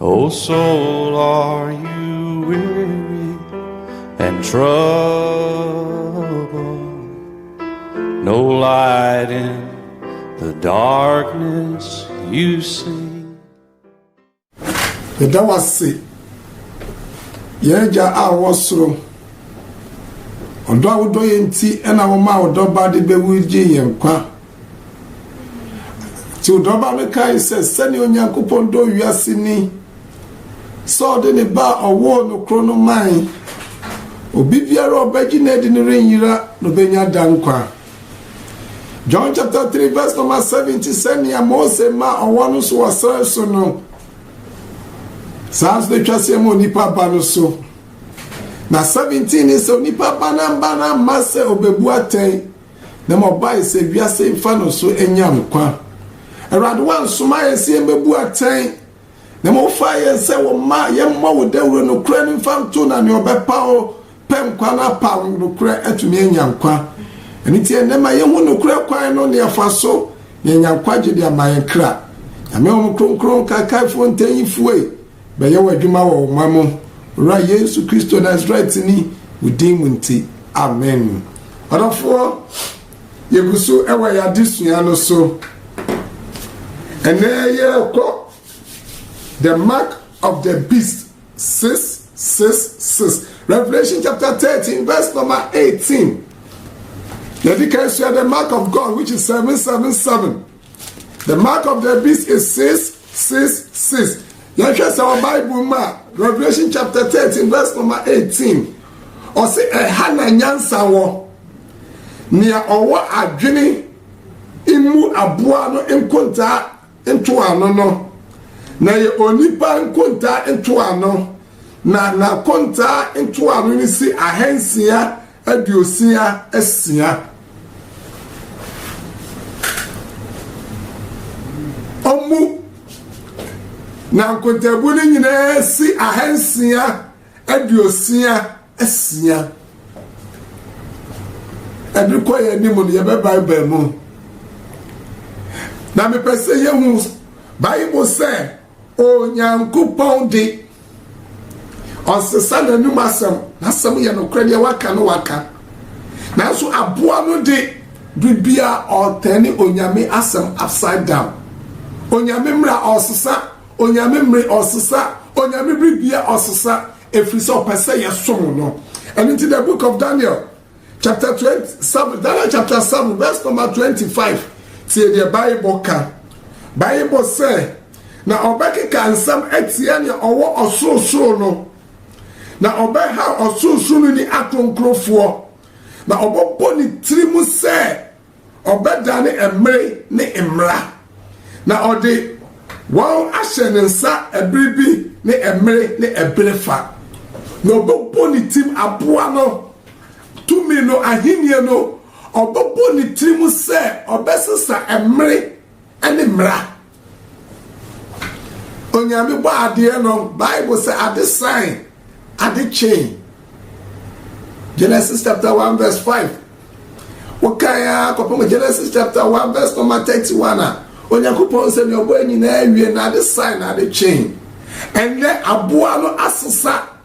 O soul, are you weary and troubled? No light in the darkness you see. Yɛda wo ase, yɛn agya a wɔ soro, ɔdɔ a wodɔ yɛn nti ɛna wɔma ɔdɔ ba de bɛwu gye yɛn kwa. Nti ɔdɔba no kae sɛ, sɛnea Onyankopɔn dɔ wiase ni, sɛ ɔde ne ba a ɔwoo no koro no mae. Obi biara a ɔbɛgye no adi no renyera na obenya daa nkwa. John chapter 3 verse number 70 sɛnea Mose ma ɔwɔ no so wɔ sare so no, saa nso na atwa sɛ ɛma onipa ba no so. Na 17 ne sɛ onipa ba no mma no amma sɛ obebu atɛn Na ma ɔbae sɛ wiase mfa no so nya nkwa. Awurade, woansoma yɛn sɛ yɛmmɛbu atɛn, na ma wofaa yɛn sɛ wo mma, yɛmmɔ wo dawuro nokorɛ no mfa nto, na nea ɔbɛpa wo pɛ nkwa no apa nokorɛ atumi anya nkwa. Ɛno nti ɛnnɛ ma yɛhu nokorɛ kwan no, na yɛfa so, na yɛanya nkwagye de ama yɛn kra. Nyame Honhom Kronkron, Nkaekaefoɔ, Ntanyifue, Bɛyɛ w'adwuma wɔ wo man mu, Wura Yesu Kristo Nasarɛtini wo din mu nti, amen. Ɔdɔfoɔ, yɛgu so wɔ yɛn adesua no so. Ɛnɛ yɛrekɔ the mark of the beast six six six Revelation chapter thirteen verse number eighteen. Yɛde ka sua the mark of God which is seven seven seven. The mark of the beast is six six six. Yɛhwɛ sɛ wɔ Bible mu a Revelation chapter thirteen verse number eighteen ɔsi ɛha na nyansa wɔ nea ɔwɔ adwene mmu aboa no nkontaa ntoano no na yɛ onipa nkontaa ntoano na n'akontaa ntoano no si ahansia aduosia asia ɔmo na nkontaabu no nyinaa si ahansia aduosia asia ɛde kɔ yɛn anim no yɛbɛ bible mu na mepɛ sɛ yɛhu bible sɛ Onyankopɔn de, ɔnsesa n'anom asɛm. N'asɛm yɛ nokorɛ, deɛ waka no waka. Nanso aboa no de, biribia ɔretɛne Onyame asɛm upside down. Onyame mmara ɔresesa, Onyame mmere ɔresesa, Onyame biribia ɔresesa, ɛfiri sɛ ɔpɛ sɛ yɛsom no. Ɛno nti the book of Daniel chapter twenty seven Daniel chapter seven verse number twenty five tie deɛ Bible ka Bible sɛ na ɔbɛkeka nsɛm atia nea ɔwɔ ɔsorosoro no na ɔbɛha ɔsorosoro no ni akronkrofoɔ na ɔbɛbɔ ne tiri mu sɛ ɔbɛdane mmere ne mmara, na ɔde wɔn ahyɛ ne nsa ɛbere bi ne ɛmere ne ɛbere fa, na ɔbɛbɔ ne tim aboa no, tumi no, ahennie no, ɔbɛbɔ ne tirim sɛ ɔbɛsesa ɛmere ne mmara. onyame bɔ adeɛ no bible sɛ ade san ade kyen genesis chapter 1 verse 5 wokan a kɔpem genesis chapter 1 verse number 31 a onyankopɔn sɛ nea ɔbɔ nyinaa awie na ade san na ade kyen ɛnyɛ aboa no asesa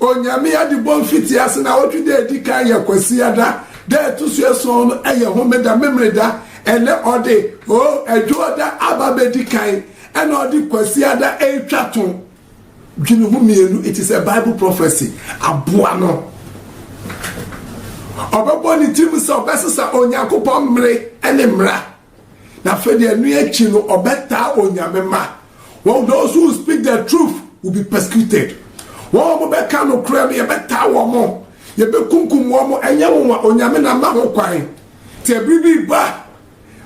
Onyame adibɔ mfitiase na awɔtwe da a edi kan yɛ Kwasia da, da a ɛto so ason no yɛ Homeda, Memeneda, ɛnɛ ɔde, oh, Ɛdwoɔda aba abɛdi kan, ɛna ɔde Kwasia da retwa to. Dwene ho mmienu, it is a Bible prophecy, aboa no. Ɔbɛbɔ ne tirim sɛ ɔbɛsesa Onyankopɔn mmere ne mmara. Na afei deɛ ɛno akyi no ɔbɛtaa onyame ma wɔn those who speak the truth will be persecuted wɔn a wɔbɛka nokorɛ no yɛbɛtaa wɔn mo yɛbɛkunkum wɔn mo ɛnyɛ wɔn a onyame na ma ho kwan te ɛbiri bi ba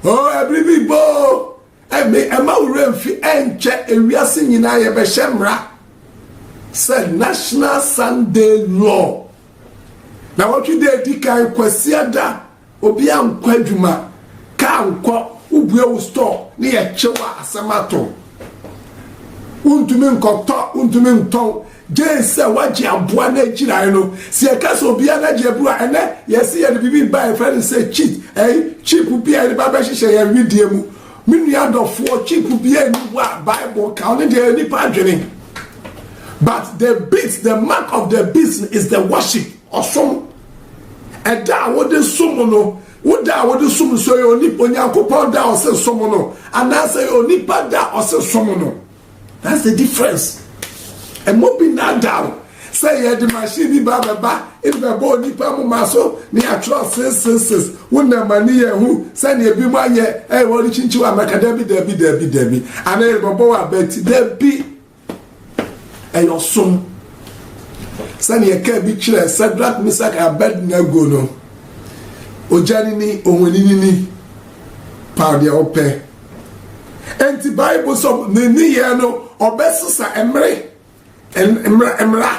oo oh, ɛbiri bi ba oo ɛmi ɛma wura mfi ɛnkyɛ ewiase nyinaa yɛbɛhyɛ mmara sɛ national sunday law na wɔtwe dɛ edi kan kwasiada Obia nkɔ adwuma, car nkɔ, wo bue wo store ne yɛ kyew a asɛm ato. Wo ntumi nkɔ tɔ, wo ntumi ntɔn, gyee sɛ wagye aboa no agyirae no. Sɛ yɛ ka sɛ obia n'agye aburu a, ɛnɛ yɛ se yɛde biribi reba a yɛ frɛ no sɛ cheat, ɛyi, chip bi a yɛde ba bɛ hyehyɛ yɛn wedeɛ mu. Me nua dɔfoɔ, chip bia nni hɔ a bible ka, ɔno deɛ ɛyɛ nipa adwene. But the beast, the mark of the beast is the worship, ɔsom. Ɛda a wode som no, wo da a wode som nso yɛ onipa Onyankopɔn da a ɔse som no anaasɛ yɛ onipa da a ɔse som no. That's the difference. Ɛmɔ bi na ada o sɛ yɛde machine bi ba bɛba ɛde bɛbɔ onipa moma so ne atwerɛ seseses wo nam ani yɛ hu sɛdeɛ bi mu ayɛ ɛyɛ wɔde kyinkyi wɔ amaka dabi dabi dabi dabi anaa yɛde bɛbɔ wɔ abati dabi ɛyɛ ɔsom sɛdeɛ kaa bi kyerɛ sadrak misak abednego no ogya ni ni ohoni ni ni paw deɛ ɔpɛ nti bible sɔ ne nneyɛɛ no ɔbɛsesa mmere mmara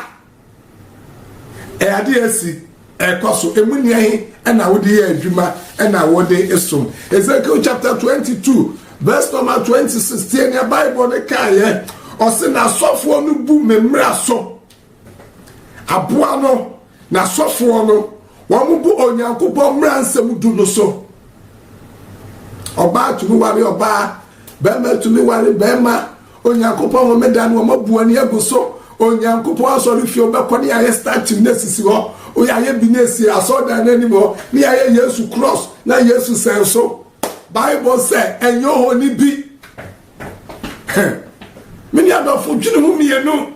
Ɛyɛ ade a asi ɛkɔ so. Emu nea he ɛna wode yɛ adwuma ɛna wɔde som. Ezekiel chapter twenty two verse number twenty six tie nea Bible no kaayɛ. Ɔse n'asɔfoɔ no bu me mmara so. Aboa no n'asɔfoɔ no wɔn bu Onyankopɔn mmara nsɛm du no so. Ɔbaa tumi ware ɔbaa, bɛrima tumi ware bɛrima. Onyankopɔn homeda no wɔma bu ani agu so Onyankopɔn asɔrefie wobɛkɔ ne yɛayɛ statue no asisi hɔ woyɛayɛ bi no asi asɔredan no anim hɔ ne yɛayɛ Yesu cross na Yesu sɛn so Bible sɛ ɛnyɛ ohoni bi mene adɔfo dwene ho mmienu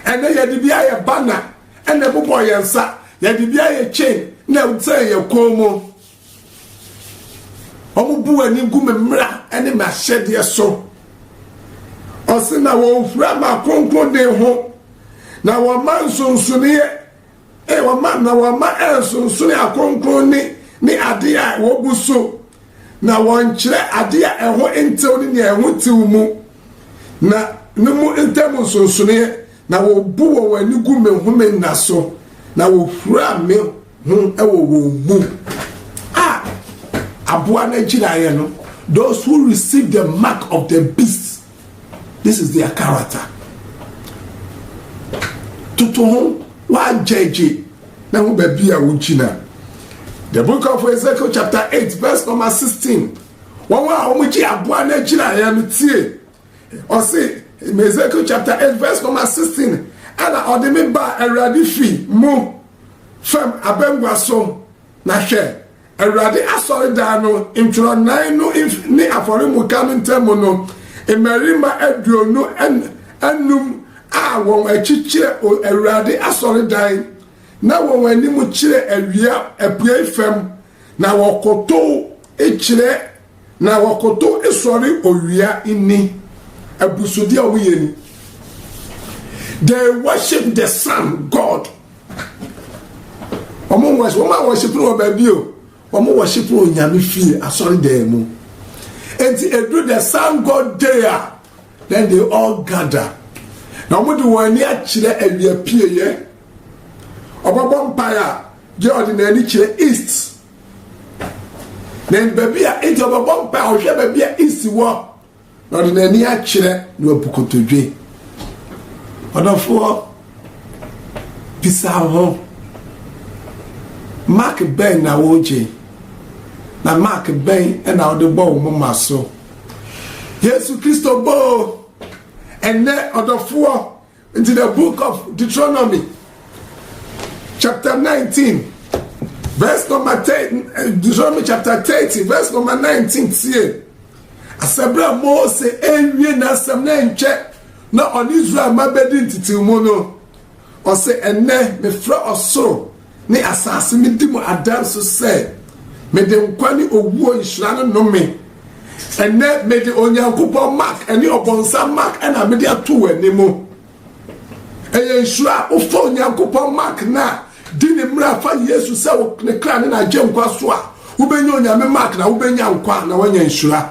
ɛnɛ yɛde bi ayɛ banner ɛna ɛbobɔ yɛn nsa yɛde bi ayɛ chain na ɛsɛn yɛ kɔn mu Wɔbu wɔn ani gu me mmara ne m'ahyɛdeɛ so. Ɔse na wɔhura m'akronkronne ho, na wɔma nsonsoneɛ, eh, wɔma, na wɔma ɛnsonsone akronkronne ne adeɛ a wɔbu so, na wɔnkyerɛ adeɛ a ɛho ntew ne nea ɛho tew mu, na no mu ntam nsonsoneɛ, na wɔbu wɔn ani gu me home nna so, na wɔhura me ho wɔ wɔn mu a aboa no agyinaeɛ no those who receive the mark of the beast this is their character toto ho wagyɛgye na ho baabi a wogyina the book of ezekiel chapter eight verse number sixteen wɔn a wɔgye aboa no agyinaeɛ no tie ɔse ezekiel chapter eight verse number sixteen ɛna ɔde me ba awurade fi mu. Fam abangua so, na hwɛ! Awurade asɔredan no ntwerɛnan no mfini ne afɔremuka no ntam no, mmarima aduonu anum a wɔn akyi kyerɛ Awurade asɔredan, na wɔn anim kyerɛ awia apuei fam, na wɔkotow kyerɛ Na wɔkoto sɔre owia nni abusude a wɔyɛ ni. They worship the sun god. Wɔn wɔship wɔn a wɔship no wɔ baabi o. Wɔn wɔship no onyame fie asɔre dan mu. Enti edu the sun god day a then they all gather. Na wɔn de wɔn ani akyerɛ awia pieɛ. Wɔbɛbɔ mpae a deɛ ɔde n'ani kyerɛ east. na baabi a nti ɔbɛbɔ mpa a ɔhwɛ baabi a isi wɔ na ɔde n'ani akyerɛ na wabu kotodwe ɔdɔfoɔ bisa ho mark bɛn na wogye na mark bɛn na wode bɔ wo moma so yesu kristo bɔɔ ɛnɛ ɔdɔfoɔ Nti the book of Deuteronomy chapter nineteen verse number ten eh, Deuteronomy chapter thirty verse number nineteen tie asɛbrɛ Mose ewie n'asɛm na nkyɛ na ɔne Israel ma bɛdi ntetewmu no ɔsɛ ɛnɛ mefrɛ ɔsoro ne asase no di mu adanse sɛ mede nkwa ne owuo nhyira no nome. Ɛnnɛ mede Onyankopɔn mark ne ɔbɔnsam mark na mede ato w'ani mu. Ɛyɛ nhyira a wofa Onyankopɔn mark no a di ne mmara fa Yesu sɛ ne kra ne n'agyenkwa so a wobɛnya Onyame mark na wobɛnya nkwa na woanya nhyira.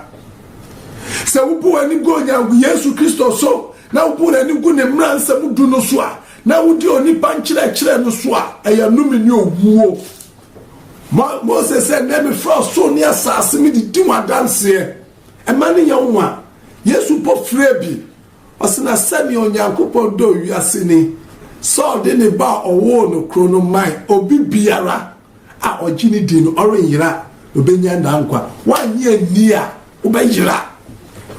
Sɛ wobu w'ani gu Onyankopɔn Yesu Kristo so na wobu w'ani gu ne mmara nsɛm du no so a Na wodi onipa nkyerɛkyerɛ no so a, ɛyɛ nnome ne owuo. Mose sɛ, Nnɛ mefrɛ ɔsoro ne asase me de di ho adanseɛ, ɛma no nyɛ nwa. Yesu mpo frɛɛ bi, ɔse, Na sɛdeɛ Onyankopɔn dɔɔ wiase ni, sɛ ɔde ne Ba a ɔwoo no koro no mae, obi biara a ɔgye no di no, ɔrenyera, na ɔbɛnya daa nkwa. Woannye anni a, wobɛyera.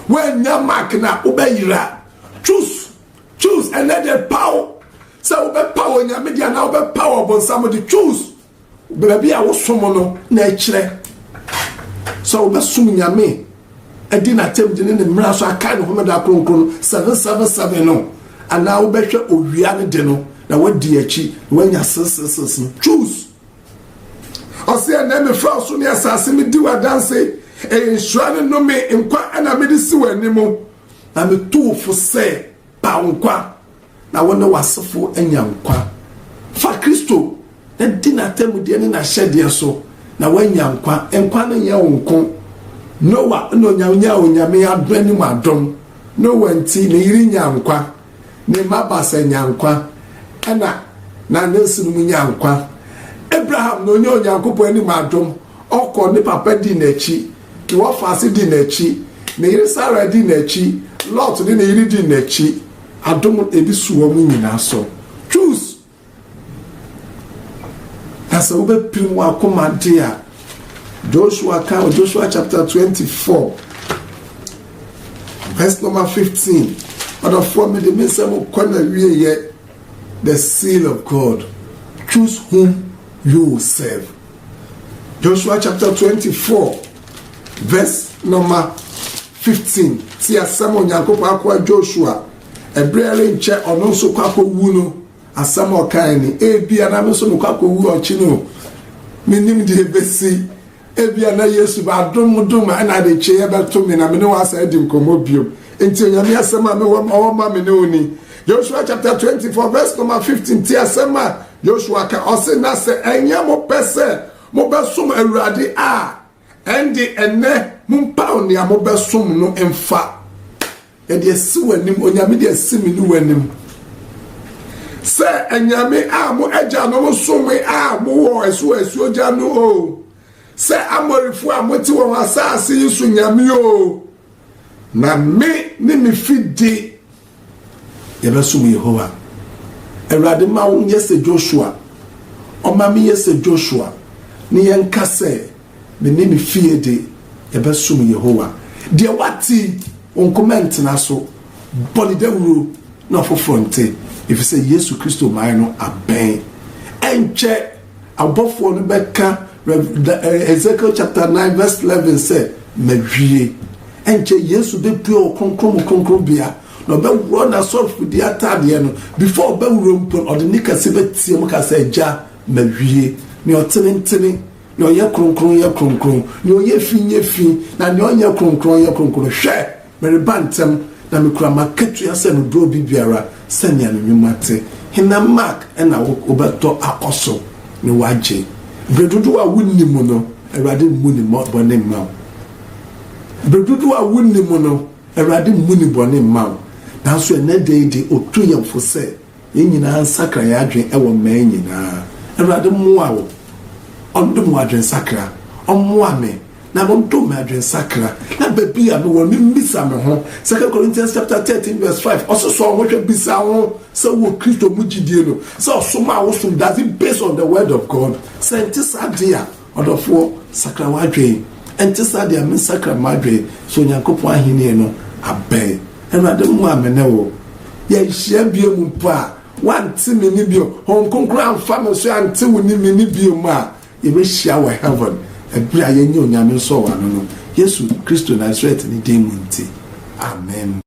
Woannya mark no a, wobɛyera. Choose. Choose ɛnɛ de paw sɛ wobɛpaw onyame de anaa wobɛpaw ɔbonsam de choose baabi a wosom no na ɛkyerɛ sɛ wobɛsom nyame adi n'atam de ne ne mmara so akae ne homeda kronkron no seven seven seven no anaa wobɛhwɛ owia no de no na wadi akyi na wanya sesesese no choose ɔsɛ ɛnɛ mefrɛ ɔso ne asase medi w'adanse ɛyɛ nhyira ne nnome nkwa ɛna mede si w'anim Na metu wo fo sɛ, paw nkwa, na wo ne w'asefo anya nkwa. Fa Kristo, na di n'atemmudeɛ ne n'ahyɛdeɛ so, na woanya nkwa. Nkwa no nyɛ wo nko. Noa na ɔnya nyaa Onyame adom anim adom. Noa nti, ne yere nyaa nkwa, ne mma baasa nyaa nkwa, ɛna n'anansinom nyaa nkwa. Abraham na ɔnya Onyankopɔn anim adom. Ɔkɔ, ne papa di n'akyi, Keloafase di n'akyi, ne yere Sarai di n'akyi, Lot ne ne yere di n'akyi, adom edi so wɔn nyinaa so. Choose! Na sɛ wobɛpirim w'akoma de a, Joshua ka wɔ Joshua chapter 24, verse number 15. Ɔdɔfoɔ, mede me nsɛm kɔ na wieyɛ, the seal of God. Choose whom you will serve. Joshua chapter 24 verse number 15 te asɛm Onyankopɔn akoa Joshua ɛberɛ ɛrenkyɛ ɔno nso kɔ akɔwu no asɛm a ɔkae ni ebia na me nso mekɔ akɔwu ɔkye no menim deɛ ɛbɛsi ebia na yesu bɛadom dom a ɛna ade kyeeɛ bɛto me na me ne wɔ asa adi nkɔmmɔ biom nti onyame asɛm a mewɔ ɔwɔ ma me ne wo ni Joshua chapter twenty four verse number fifteen ti asɛm a Joshua ka ɔse na sɛ ɛnyɛ mo pɛ sɛ mobɛsom Awurade a ɛnde ɛnɛ mompaw nea mobɛsom no mfa ɛde asi w'anim onyame de asi me ne w'anim sɛ anyame a mo agyanom som a mowɔ ɛso asuo gya no o sɛ amorifo a mote wɔn asase yi so nyame o na me ne me fidi Yɛbɛsom Yehowa. Awurade mma wo nyɛ sɛ Joshua. Ɔmma menyɛ sɛ Joshua, ne yɛnka sɛ, Me ne me fie de, yɛbɛsom Yehowa. Deɛ wate yi, wo nkoma ntena so. Bɔ no dawuro na afoforɔ nte, ɛfiri sɛ Yesu Kristo mmaeɛ no abɛn. Ɛnkyɛ! Abɔfoɔ no bɛka Rev. Da, ɛ, Ezekiel chapter 9 verse 11 sɛ, Mawie. Ɛnkyɛ Yesu bɛpue wɔ Kronkron mu Kronkronbea, na ɔbɛworɔ n'asɔfodie ataadeɛ no. Before ɔbɛworɔ mpo no, ɔde nne kɛse bɛteam ka sɛ, Agya, mawie. Nea ɔtenetene, nea ɔyɛ kronkron yɛ kronkron, nea ɔyɛ fi nyɛ fi, na nea ɔnyɛ kronkron yɛ kronkron. Hwɛ! Mereba ntɛm, na mikura m'akatua sɛ mebrɛ obi biara sɛnea ne nnwuma te. Hena mark na wobɛtɔ akɔ so ne wo agye? Bere dodow a wunni mu no, Awurade mmu ne bɔne mma wo. Bere dodow a wunni mu no, Awurade mmu ne bɔne mma wo. Nanso ɛnnɛ da yi de, otu yɛn fo sɛ Yɛn nyinaa nsakra yɛn adwene wɔ mmaa nyinaa. Awurade mmoa wo, ɔndom wo adwensakra, ɔmmoa me na ɔndom me adwensakra, na baabi a mewɔ no memmisa me ho. Second Corinthians chapter 13 verse 5, ɔse sɔ ho hwɛ, bisa ho sɛ wowɔ Kristo mu gyidie no, sɛ ɔsomaa wo som, does it based on the word of God? Sɛ ɛnte saa de a, Ɔdɔfoɔ, sakra w'adwen. Ɛnte saa deɛ a, mensakra m'adwen, sɛ Onyankopɔn ahennie no abɛn. Awurade mmoa me ne wo. Yɛnhyia biom mpo a, woante me nne biom, Honhom Kronkron amfa me so ante wo ne me nne biom a, yɛbɛhyia wɔ Heaven, ɛberɛ a yɛanya Onyame nsɔwano no, Yesu Kristo Nasaretni din mu nti. Amen.